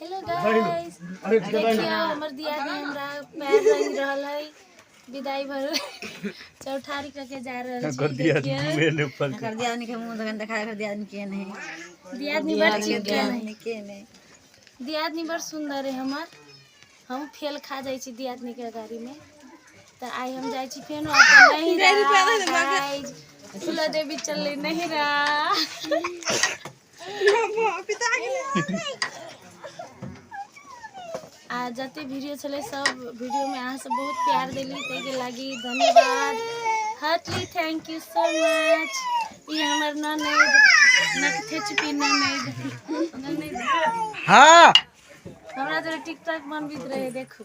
hello guys देखियो हमर दियादी हमरा पैर रंग रहल है विदाई भर चौठारी करके जा रहल छी कर दिया मेरे ऊपर कर दिया नहीं के मुंह दगन दिखा कर दिया नहीं के नहीं दियाद नहीं बड़ ठीक है नहीं के नहीं दियाद नहीं बड़ सुंदर है हमर हम फेल खा जाई छी दियाद नहीं के गाड़ी में तो आई हम जाई छी फेन अपन नहीं रहा गाइस फूला देवी चल नहीं रहा आ जते वीडियो छले सब वीडियो में अहाँ सब बहुत प्यार देली ते के लागी धन्यवाद heartily thank you so much ई हमर ननद नकथे चुपी ननद ननद हाँ हमरा जरा टिकटॉक बनबैत रहे देखू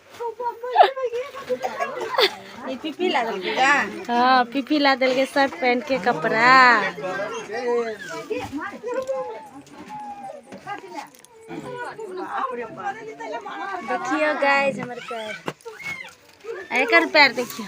ई पीपी ला देलकै का हाँ पीपी ला दिल के शर्ट पहन के कपड़ा देखियो गाइस हमर पैर एकर पैर देखियो